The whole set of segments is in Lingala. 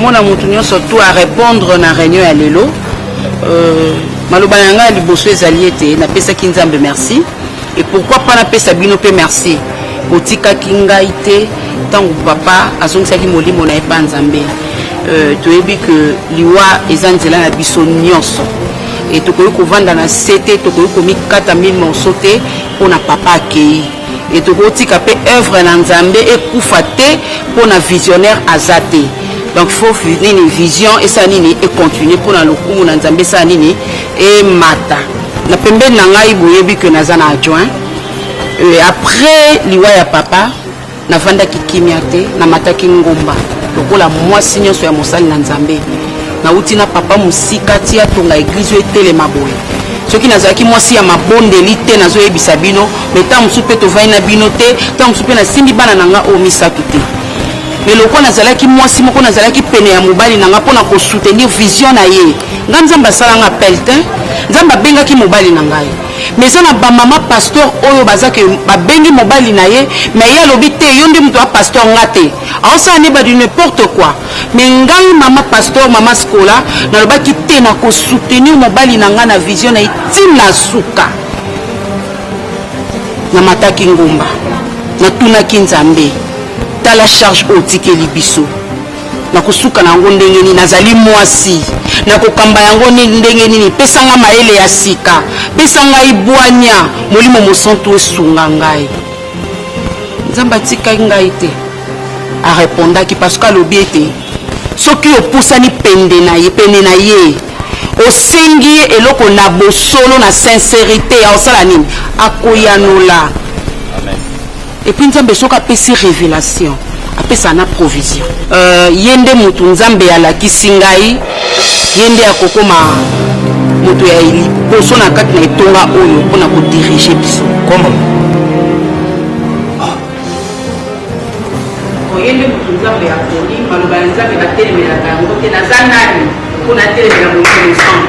mona moto nyonso to arépondre na réunion ya lelo euh, maloba na ngai ya liboso ezali ete napesaki nzambe merci et pourquoi pas napesa bino mpe merci botikaki ngai te ntango papa azongisaki molimo na ye mpa nzambe euh, toyebi ke liwa eza nzela na biso nyonso e tokoki kovanda na se te tokoki komikata mille morceau te mpo na papa akei e tokotika mpe œuvre na nzambe ekufa te mpo na visionnaire aza te donc fo nini vision esala nini econtinue mpo na lokumu na nzambe esala nini emata na pembeni na ngai boyebi que naza na adjoint euh, après liwa ya papa nafandaki kimia te namataki ngomba lokola mwasi nyonso ya mosali na nzambe nauti na papa mosika ti atonga eglize oyo etelema boye soki nazalaki mwasi ya mabondeli te nazoyebisa bino me ntango mosusu mpe tovai na bino te ntango mosusu mpe nasimbi bana na nga oyo misato te me lokola nazalaki mwasi moko nazalaki pene ya mobali na nga mpo na kosoutenir vision na ye nga nzambe asala nga pelletin nzambe abengaki mobali na ngai mais eza na bamama pasteur oyo baza ke babengi mobali na ye mais ye alobi te yo nde moto ya pasteur nga te aosala nde badi n'importe quoi mais ngai mama pasteur mama scola nalobaki te nakosoutenir mobali na ngai na vision na ye ntina suka namataki ngomba natunaki nzambe tala charge otikeli biso Nakosuka na yango ndenge nini? Nazali mwasi, nakokamba yango ndenge nini? Pesa ngai mayele ya sika, pesa ngai bwanya, Molimo Mosantu esunga ngai. Nzambe atikaki ngai te, arepondaki parce que alobi ete soki opusani pende na ye pene na ye osengi ye eloko na bosolo na sincerite ya osala nini akoyanola Et puis nzambe soki apesi revelation apesa na provision. Euh, ye nde mutu nzambe alakisi ngai ye nde akokoma moto ya liboso na kati na etonga oyo mpo na kodirige biso ye nde moto nzambe ya poni maloba ya nzambe batelemelaka yango te naza nani mpo natelemela moinosant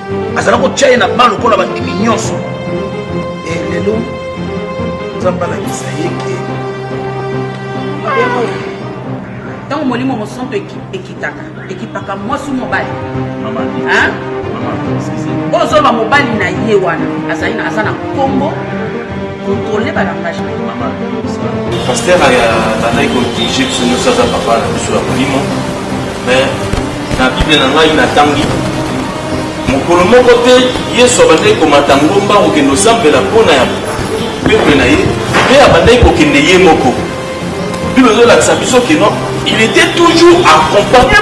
azala kotya ye na ban lokola bandimi nyonso e lelo nzambe alakisa ye ke ntango molimo mosanto ekitaka ekipaka mwasi mobali ozoloba mobali na ye wana azali aza na nkombo Contrôler ba langage na mama. Pasteur aya bandaki ko dirige biso nyonso aza papa na biso ya molimo mais na bible na ngai natangi mokolo moko te yesu abandaki komata ngomba kokende osambela mpo na ya peple na ye mpe abandaki kokende ye moko bible ezolakisa biso keno il était toujours accompagné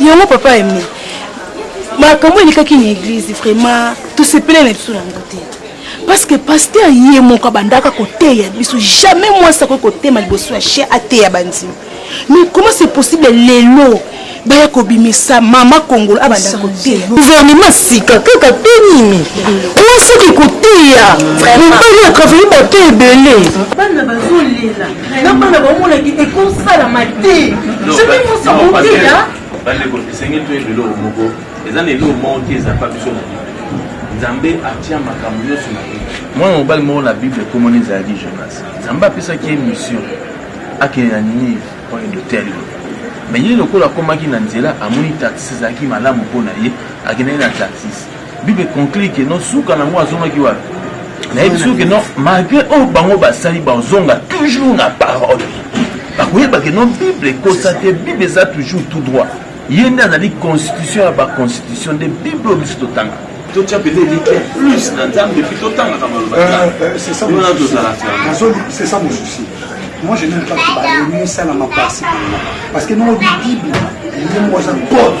Yango papa Aime, makambo elekaki na eglise vraiment tosepele na biso nango te parce que pasteur ye moko abandaka koteya biso jamais mwasi akoki kotema liboso ya chien ateya bandimi mais comment c'est possible lelo baya kobimisa mama kongolo abanda koteya gouvernement sika kaka te nini mwasi oke koteya mobali atravaille bato ebele bana bazolela na bana baomonaki ekosalama te soki mosi moteya bandeko esengeli toyeba eloko moko eza na eloko moko te ezapa biso na bible nzambe atya makambo nyonso na bible mwana mobali moko na bible ekomona ezalaki jonas nzambe apesaki ye mission akende na ninive mpo akende oteya liloba me ye lokola akomaki na nzela amoni taxi ezalaki malamu mpo na ye akendaki na taxis Bible conclut que non suka nango azongaki wapi? nayebi soki non malgré oyo bango basali bazonga toujours na parole bakoyeba ke non bible ekosa te bible eza toujours tout droit ye nde azali constitution ya baconstitution nde bible oyo biso totanga totya mpenza elikya plus na nzambe epuis totangaka maloba wana tozalaka c'est ça mon souci moi je n'aime pas que balemisa na mapasi parce que nongo bibible ye moko aza code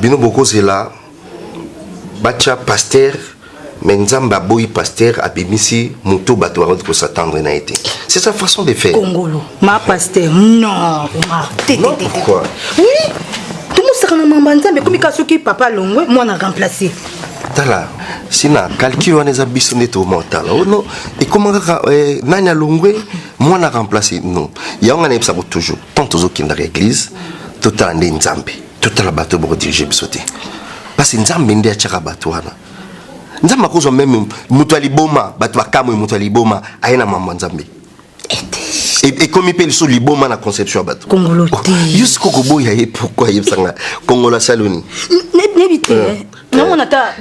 Bino bokozela batia pasteur mais nzambe aboyi pasteur abimisi moto bato bakoki kosatendre na ye te c'est sa façon de faire kongolo ma pasteur non omar te non pourquoi oui tomosaka na mamba nzambe ekomi ka soki papa longwe mwana remplace tala sina calcul wana eza biso nde toma otala ono oh ekoma kaka eh, nani alongwe mwana remplace non yango nga nayebisako toujours tant tozokendaka église totala nde nzambe totala bato boko dirige biso te parce nzambe nde atyaka bato wana nzambe akozwa meme moto ya liboma bato bakamwe moto ya liboma aye na mambo ya nzambe ekomi mpe lisusu liboma na conception ya bato kongolo oh, te yo siko koboya ye pourkui ayebisa ngai kongolo asali oni nayebi te eh. Eh. namona ata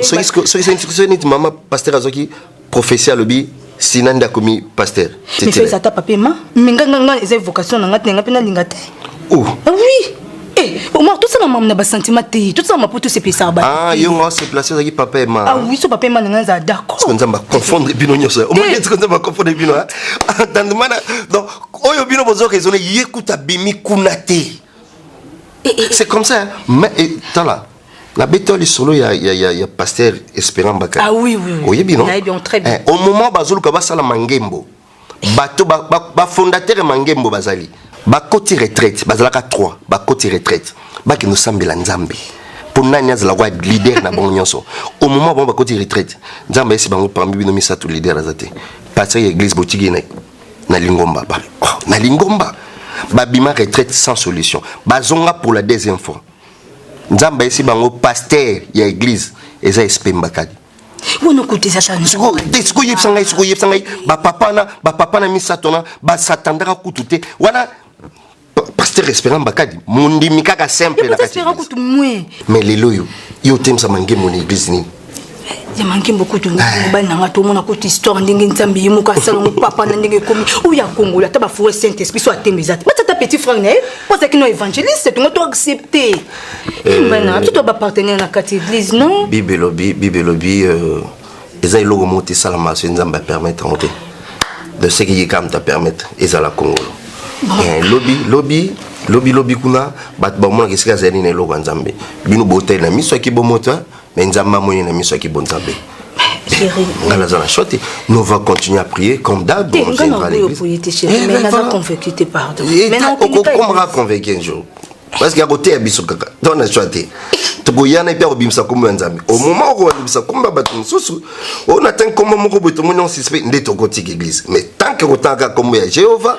soki neti mama pasteur azwaki Prophetie alobi sina nda komi pasteur. Mais ça ata papier ma mais nga nga eza vocation na nga te nga pe na linga te. Oh. Ah oui. Eh, omar tosala mamu na basentiment te tosala mapo tosepelisa ba ah, yo nga oseplase ozalaki papa ema ah, oui so papa ema nanga ezala d'accord nzambe aconfondre bino nyonso omaetiko eh. nzambe aconfondre bino entendemana ah, donc oyo bino bozoka ezole ye kuta bimi kuna te eh, c'est comme ça hein. mais tala na beta lisolo ya, ya, ya, ya pasteur esperant bakali ah, oui, oui, oui. oyebi no eh, au moment bazoluka basala mangembo bato bafondateur ba, ba ya mangembo bazali bakoti retraite bazalaka 3 bakoti retraite bakende osambela nzambe mpo nani azala kwa leader na bango nyonso au moment bango bakoti retraite nzambe ayesi bango pambi bino misato leader aza te pasteur ya église botiki na, na lingomba ba, oh, na lingomba babima retraite sans solution bazonga pour la deuxième fois nzambe ayesi bango pasteur ya eglise eza espemba kadi wana kutu eza sikoyo yebisa ngai sikoyo yebisa ngai bapapa wana bapapa na misato wana basatandaka kutu te wana pasteur esperant bakadi mondimi kaka simple na kati mais lelo oyo yo otemisama ngemo na eglise nini ya mankembo kutu mobali na nga tomona kutu histoire ndenge nzambe ye moko asala ngo papa na ndenge ekomi oyo ya kongola ata bafoure saint esprit so atembe eza te bati ata petit frère na ye po azalaki no évangéliste tongo to accepte mobali na nga biso to bapartenaire na kati église non bible elobi bible elobi euh, eza eloko moko te esalama soki nzambe apermettre yango te de ce que ye kaka moto apermettre ezala kongolo eh, lobi lobi lobi lobi kuna bato bamonaka esika azali na eloko ya nzambe bino botali na miso yaki bomoto Mais Nzambe amoni na miso ya kibonzambe. Chérie. Nga naza na choix te. Nous va continuer à prier comme d'hab. Te, nga na boyo boye te chérie. Eh, mais naza convaincu te pardon. Eh, mais na okende pas. Okomaka convaincu un jour. Parce qu'il y a côté ya biso kaka. Donc na choix te. tokoyana epe akobimisa nkombo ya nzambe au moment okobimisa nkombo ya bato mosusu oyo na ntangi nkombo moko boye tomoni on suspect nde tokotiki eglise mais tant que kotangaka nkombo ya jehovah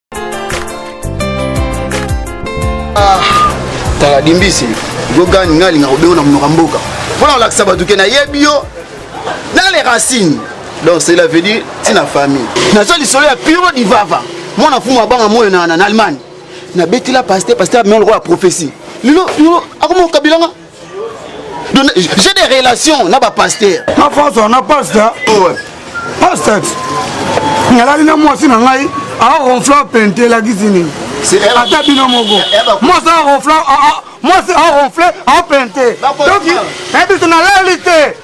tala dimbisi gogani ngai alinga kobengo na monoka mboka mpo na kolakisa bato ke nayebi yo na le racine donc cela veut dire ntina famille naza lisolo ya piro divava mwana mfumu abanga moyo na allemagne nabetela paster paster amea lokola prophesie lelo lelo akoma okabilanga J'ai des relations na ba pasteur. Na France on a pasteur. Ouais. Pasteur. Ngalali na mwasi na ngai a ronfla pente la gizini. Ata bino moko. Eh, eh, mwasi a ronfla a mwasi a ronfle a pente. Donc, eh biso na lali te.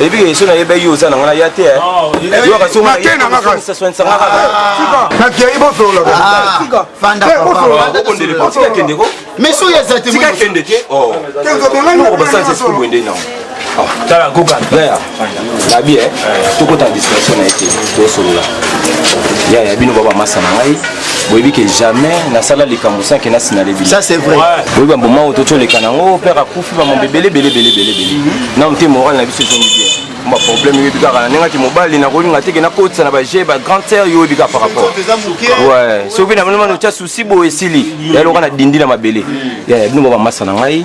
ebika yesu nayebaki yo oza na ngana ya te nakei bosololakendeko meso oyo ezakende te obasanzesikubuende nao tala kokana labi eh, tokota na distraction na ye te tosolola ya ya bino baba masa na ngai boyebi ke jamais nasala likambo sans ke nasinale bino ça c'est vrai boyebi bamboma oyo totioleka nango père akufi bamambo ebele ebele ebele ebele ebele nano te moral na biso ezongi bien ma problème oyebi kaka na ndenge ati mobali nakolinga teke nakotisa na baje ba grande sœur yo oyebi kaka par rapport ouais soki na moni mano otya souci boye esili yaloka na dindi na mabele ya bino baba masa na ngai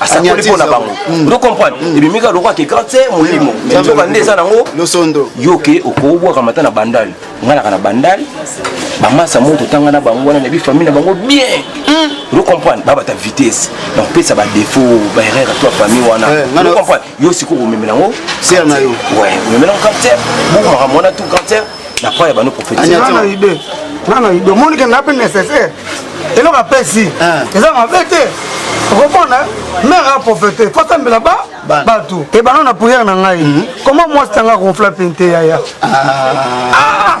asakoli mpo na bango mm. ozo comprendre mm. ebimi kaka lokola ke grand se molimo mm. nzoka nde eza nango losondo yo ke okobwaka mata na bandale ngai naka na bandale bamasa moko totanga na bango wana nayebi famille na bango bien ozo comprendre babata vitesse na kopesa badefo baerreur to famille wana eh, ozo comprendre yo sikoyo komemela yango ser na yo omemela yango quartier buku makambo wana tu quartier na pa ya bano prophétisnana ide nana ide omoni ke nga mpe nécessaire eloko apesi eh. eza mabe te okomona mare aprofete fo asambela ba bato ebanda na priere na ngai mhm. koma mwasi tanga konfla mpe nte yaya ah. ah,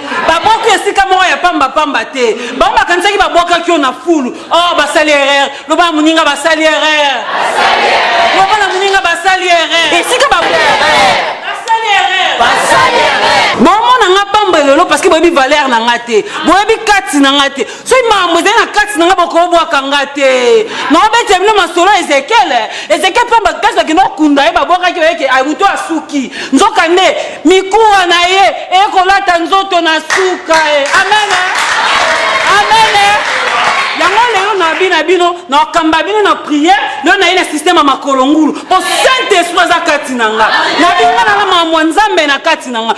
babwaki yo esika moko ya pambapamba te bango bakanisaki babwakaki yo na fulu o oh, basali erreur loba na moninga basali erreur loba na moninga basali erreur esika bomona nga pamba lelo parceke boyebi valeur na nga te boyebi kati na nga te soki makambo ezali na kati na ngai bokobwaka nga te naobetela bino masolo ya ezekiele ezekiele mpe bato kasi bakende kokunda ye babwakaki oyeke moto asuki nzoka nde mikuwa na ye ekolata nzoto na suka ye eh. amen eh. amen eh. yango lelo nabi na bino nakamba bino na priere lelo naye na systeme ya makolo ngulu mpo saint esprit aza kati na nga nabi nga nala makambo ya nzambe na kati na nga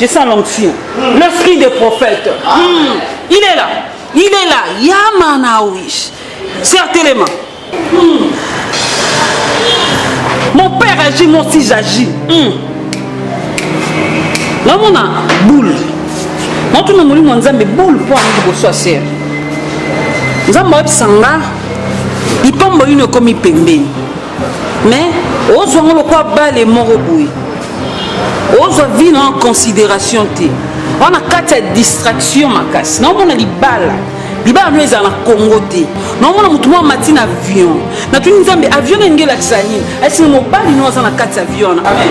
Je sens l'onction. L'esprit des prophètes. Hmm. Il est là. Il est là. Yamanaouish. Certainement. Hmm. Mon père agit, moi aussi j'agis. Hmm. namona boule natuna molimo ya nzambe boule mpo yango liboso ya sere nzambe ayebisa nga lipambo yino ekomi pembeni mais ozwa ngo lokola bale moko boye ozwa vie na en considération te wana kati ya distraction makasi naomona libala libala no ezala na congo te naomona motu mwa mati na avion natuni nzambe avion nenge elakisa nini asinga mobali no aza na kati ya avion wana amen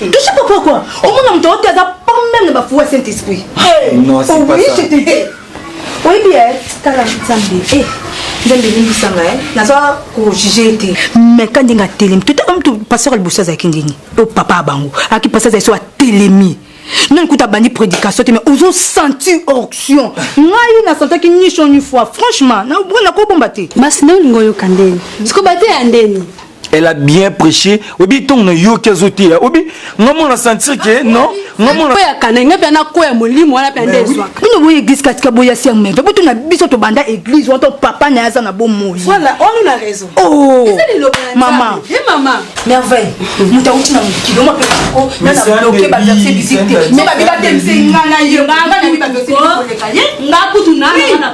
Touche pas quoi quoi Au moins on te aza pas même na bafoua Saint-Esprit. Non, c'est pas ça. Oui bien, t'as la Nzambe. Eh, Nzambe limbisa nga eh. Naza ko juger te. Mais quand dinga telemi, tout homme tout pasteur le bossa za kindini. O papa bango, aki pasteur za so telemi. nani kuta abandi prédication te mais ozo sentir onction ngai nasentaki nishon une fois franchement nakobomba te basi nde olingi oyoka ndeni sikoyo bateya ndeni elle a bien prêché obi ntongo na yoki azoteya obi nga mo na sentir ke non ya kana nga mpe nakoya molimo wana mpe ande ezwaka bino boye église katika boya siang meve butu na biso tobanda église wana to papa na ye aza na bomoi oh, mama merveille moto auti na mokili oma mpe koko nanaoke baverse bisite me babibatelise nga na ye nga na ye baverse koleka ye nga kutu na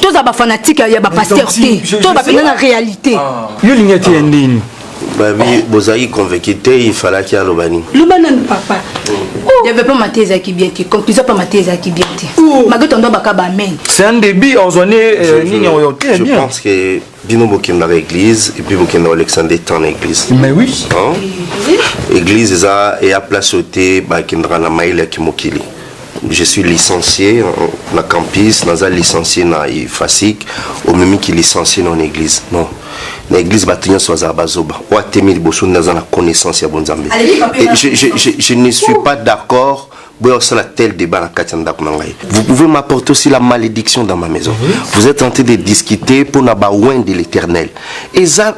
tozala bafanatique ya bapaster te to bapena na réalité ah. yo olingi ete ya ndeni babi bozalaki convaincu te il falaki aloba nini loba nanu papa oh. développement mate ezalaki bien te conclusion mpe mate ezalaki bien te oh. malgré tondo bakaba amen c'est un début ozwa nde euh, nini oyo te bien Bino bokendaka eglise et puis bokenda Alexandre temps na eglise. Mais oui. Hein? Eglise eza ya place ote bakendaka na mayele ya kimokili. Je suis licencié na campus, naza licencié na IFASIC, omemi ki licencié na église. Non. na église bato nyonso bazala bazoba oyo atemi liboso nde aza na connaissance ya bonzambe je, je, je, je ne suis pas d'accord Boya kosala tel debat na kati ya ndako na ngai. Vous pouvez m'apporter aussi la malédiction dans ma maison. Oui. Vous êtes en train de discuter pour na ba oin de l'éternel. Eza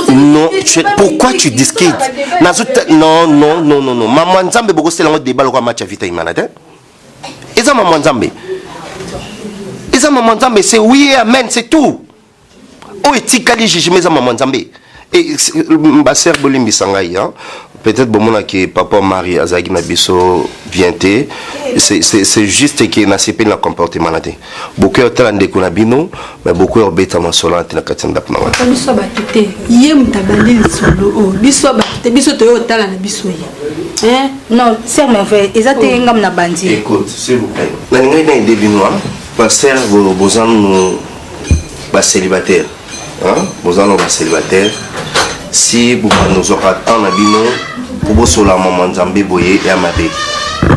non, tu es, pourquoi tu discutes Nazo non non non non non. Maman Nzambe boko sela ngo debat lokwa match ya Vita Imana te. Eza maman Nzambe. Eza maman Nzambe, c'est oui et amen, c'est tout. oyo etikali jugement eza maman nzambe eh, baser bolimbisa ngai hein? peut-être bomonaki papa marie azalaki na biso bien te c'est juste ke nasepeli na comportement na te bokoya otala ndeko na bino mais bokoya obeta masolo na te na kati ya ndako na wana biso ya bato te ye moto abandi lisolo oyo oh, biso ya bato te biso toye otala na biso ye eh? non ser merveille eza te oh. ngam na bandi écoute s'il vous plaît nalingaki na ede bino baser bozanu ba célibataire hein boza no ba célibataire si bobanda ozwaka temps na bino kobosola mama nzambe boye ya mabe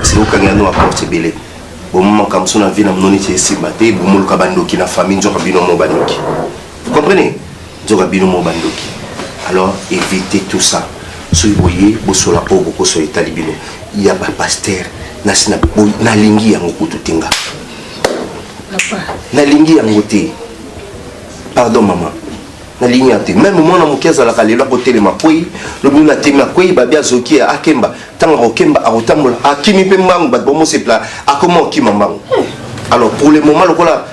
siko okangela no baporte ebele bomo makambo so na vie na bino neti esimba te bomoluka bandoki na famille nzoka bino mo bandoki vous comprenez nzoka bino mo bandoki alors évitez tout ça soki boye bosola oyo bokosola etali bino ya bapaster nasi nalingi yango kutu te nga nalingi yango te pardon mama nalingi yango te meme mwana moke azalaka lelo akotelema kwei lobi na temi akwei babi azoki ye akemba ntango akokemba akotambola akimi mpe mbangu bato bamosepela akoma okima mbangu alors pour le moment lokola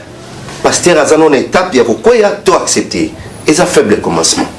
pasteur aza nona étape ya kokweya to accepte eza faible commencement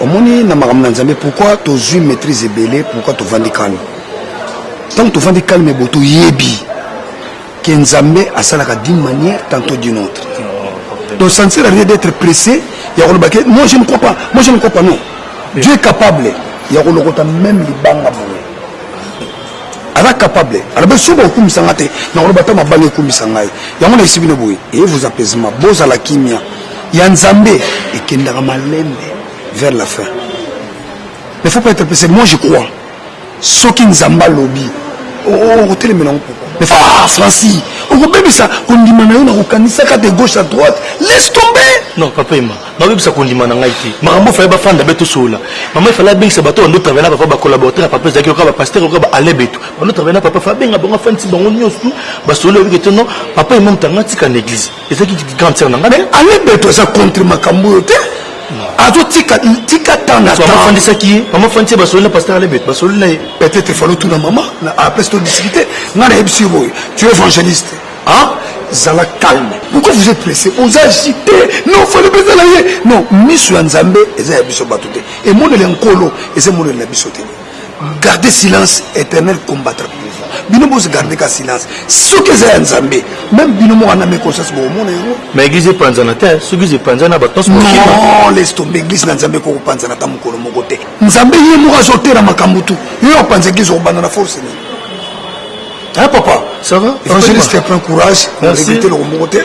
omoni na makambo na nzambe pourkui tozwi maîtrise ebele pourkui tovandi kalme ntango tovandi kalme bo toyebi ke nzambe asalaka d'une manière tantôt d'une autre donc ça ne sert à rien d'être pressé ya koloba ke moi je ne crois pas moi je ne crois pas non dieu est capable ya kolokota meme libanga boye aza capable alobi soki bakokumisa ngai te nakoloba ata mabanga ekumisa ngai yango na esibino boye eye vous apaisement bozala kimia ya nzambe ekendaka malembe vers la fin mais faut pas être pressé moi je crois soki nzambe alobi okotelemela yango pourquoi mais ah, franci okobebisa kondima na yo na kokanisaka de gauche à droite laisse tomber non papa ema nabebisa kondima na ngai te makambo efale bafanda be tosolola mama efale abengisa bato bando travaille na papa bacollaborateur ya papa ezalaki oka bapaster oka baalebetu bando travaille na papa fa abenga bango afandisi bango nyonso basolola ebike te non papa ema moto anga tika na église ezaki grande sœur na ngai mais ale beto aza contre makambo oyo te azotika tika temps na temps afandisaki ye mama afandisi ye basololi na pasteur ale beto basololi na ye peut-être falo tuna mama après to discuter ngai nayebisi yo boye tu évangéliste hein zala calme pourquoi vous êtes pressé oza agité non fale mpenza na ye non miso ya nzambe eza ya biso bato te emoneli ya nkolo eza emoneli na biso te garde silence éternel combattre bino bozo garde ka silence soki eza ya nzambe meme bino moko na me conscience bokomona yango ma église epanzana te soki eza epanzana batonso non laisse tombe église na nzambe koko panzana ata mokolo moko te nzambe ye moko azotela makambo tu yo opanza église okobanda na force nini Hein, papa Ça va Évangéliste, prends courage. Merci. Éviter le remonter.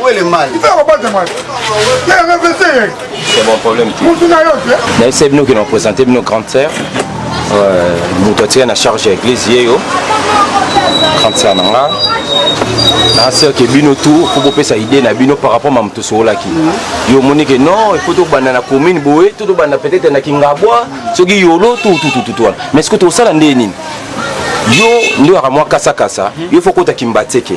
Où est le mal C'est bon, problème. D'ailleurs, c'est nous qui nous présenté, nos grandes sœurs. Euh, nous doit tirer la charge avec les yeux. Grande sœur, non, là. na sœur ke bino tout faut bopesa idée na bino par rapport ma moto sokolaki yo omoni ke non il faut tobanda na commune boye to tobanda peut-être na kingabwa soki yolo tout tout tout tout wana mais est-ce que tosala ndenge nini yo nde waka mwa kasakasa yo faut kota kimbateke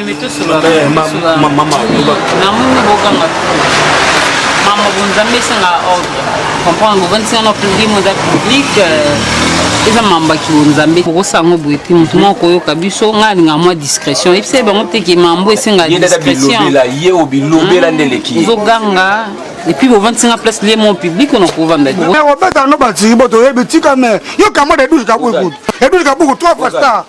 nzambe esanga ordre comprendre bovandisi wana pledi moza public euh, eza mamba kiwo nzambe kokosa yango boye te motu moko koyoka biso ngai alinga mwa discrétion ebisa ye bango teke mambo esenga discrétionozoganga epuis bovandisi nga place lie mon public ona kovanda te obeta no batiki boto oyebi tika me yo kamo de 12 kabuku edouze kabuku trois fois star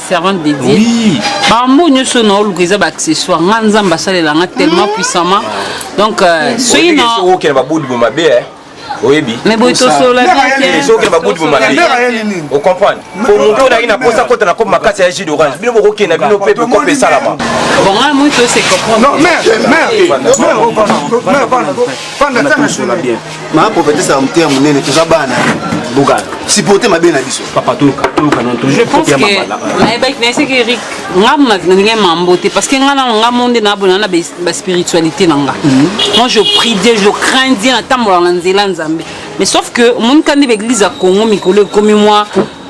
servante de Dieu oui. bambo nyonso na oluka eza baaccessoire nga nzambe asalela nga tellement mm. puissamment donc euh, soki na okende babudi bo mabe eh. oyebi mais boye tosolola biensoki babudi bo mabe ocomprendre po moto oyo na posa kota na kope makasi ya jus d'orange bino bokokenda bino mpe bokope esalama bon nga moi tose comprendre ma prophétesse ya moteya monene toza bana buka supporte mabe na biso papa toluka toluka non toujours kopia mabala nayebaki nayeseki erik nga nalingai mambo te parce que nga nano nga monde nabona na baspiritualité na nga mhm. moi je prie dieu je crains dieu natambolaka na nzela nzambe mais sauf que omoni kandi baeglise ya congo mikolo ekomi mwa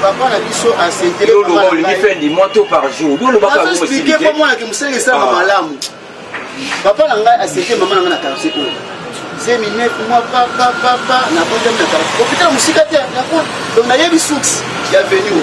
papa na biso asenteolingi fin du mois to par jour bolobaexplike mpo mwanaki mosala esalaka ah. malamu papa na ngai asente mama na ngai na quartier oyo zemi net mwa papapapa nakonzami na quartier opitala mosika te donc nayebi source ya venu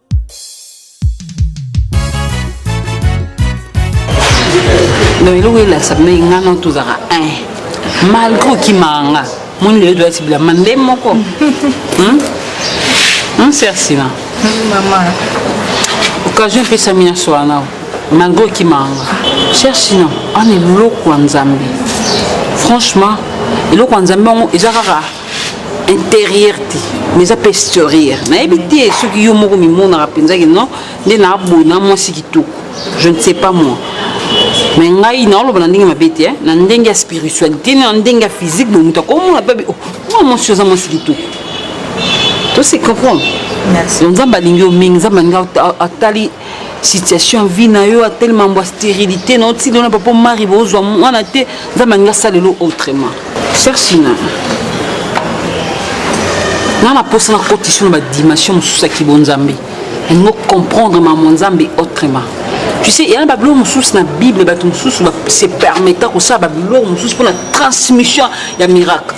donc eloko elakisa mpe ngai no tozalaka un malgré okimaka nga moni lelo toyati bilamba nde moko mser sina occasion epesami na sola nao malgré okimaka nga cher sina wana eloko ya nzambe franchement eloko ya nzambe yango eza kaka interieur te mais eza mpe exterieur nayebi te soki yo moko mimonaka mpenza ke non nde naaboyi na mwasi kitoko je ne sais pas moi me ngai naoloba na ndenge mabe te na ndenge ya spiritualité na ndenge ya physique boye moto akomona mpe oh, mwa mwasi oza mwasi kitoko to se comprendre nzambe alingi yo mingi nzambe alingi atali situation ya vie na yo atele mambo ya sterilité na otili wana papa omari bozwa mwana te nzambe alingi asalelo autrement sersina nga na mposa na kotisi na badimension mosusu ya kibonzambe yango comprendre mamo nzambe autrement tu sais eyana babiloko mosusu na bible bato mosusu se permetta kosala babiloko mosusu mpo na transmission ya miracle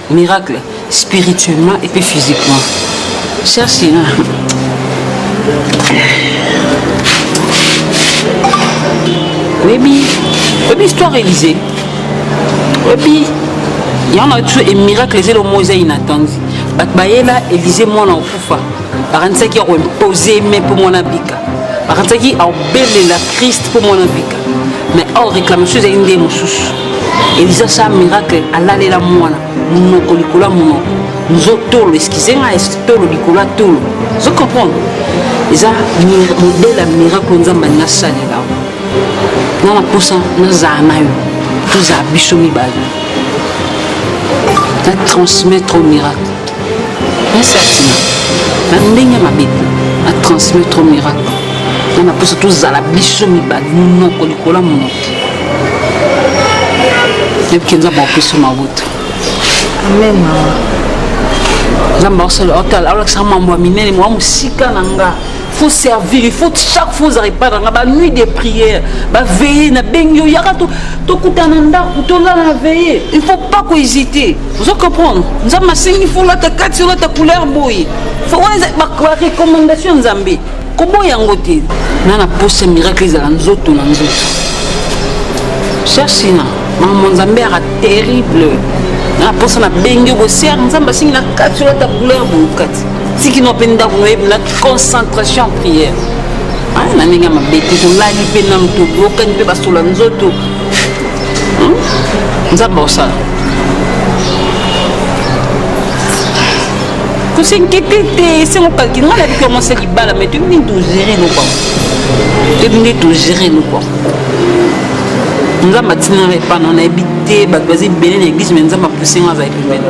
Miracle spirituellement et puis physiquement. Cher Sina. Webi, webi histoire Élysée. Webi, il y en a toujours un miracle, c'est le mot inattendu. bato bayela elize mwana okufa bakanisaki ya koimpose me mpo mwana bika bakanisaki aobelela krist mpo mwana bika mais or réclamation ezali nde mosusu eliza sa miracle alalela mwana monoko likolo ya monoko nzo tolo eskize ngai tolo likolo ya tolo zo comprendre eza modele ya miracle nzambe alingi asalela nga na mposa nazala na yo tozala biso mibale na transmettre miracle Merci Atina. Na ndenge mabe, na transmet trop miracle. Na na posa tozala biso mibale monoko likolo ya monoko. Yebi ke Nzambe akopeso mawuta. Amen maman. Nzambe akolakisa mambo ya minene mwa mosika na nga. faut servir il faut chaque fois ozala epai na nga banuit de prière baveille nabengi yo yaka tokutana ndako tolala na veille il faut pas kohésite ozo comprendre nzambe asengi fo olata kati olata couleur boye barecommandation ya nzambe koboya yango te na na posa miracle ezala nzoto na nzoto cherchina mama nzambe yaka terrible na posa nabengi yo boser nzambe asengi na kati olata couleur boye kati tiki no mpe ndako no yebi na concentration en prière ah, na ndenge ya mabe te tolali mpe nanu toyokani mpe basola nzoto hmm? nzambe osala kosenkete te esengo kalki ngai nayebi koma se libala mai toyebi nini togere eloko toyebi nde togere eloko nzambe atinanga epa na nayebi te bato baza ebele na eglise mai nzambe apusenga azali pembeni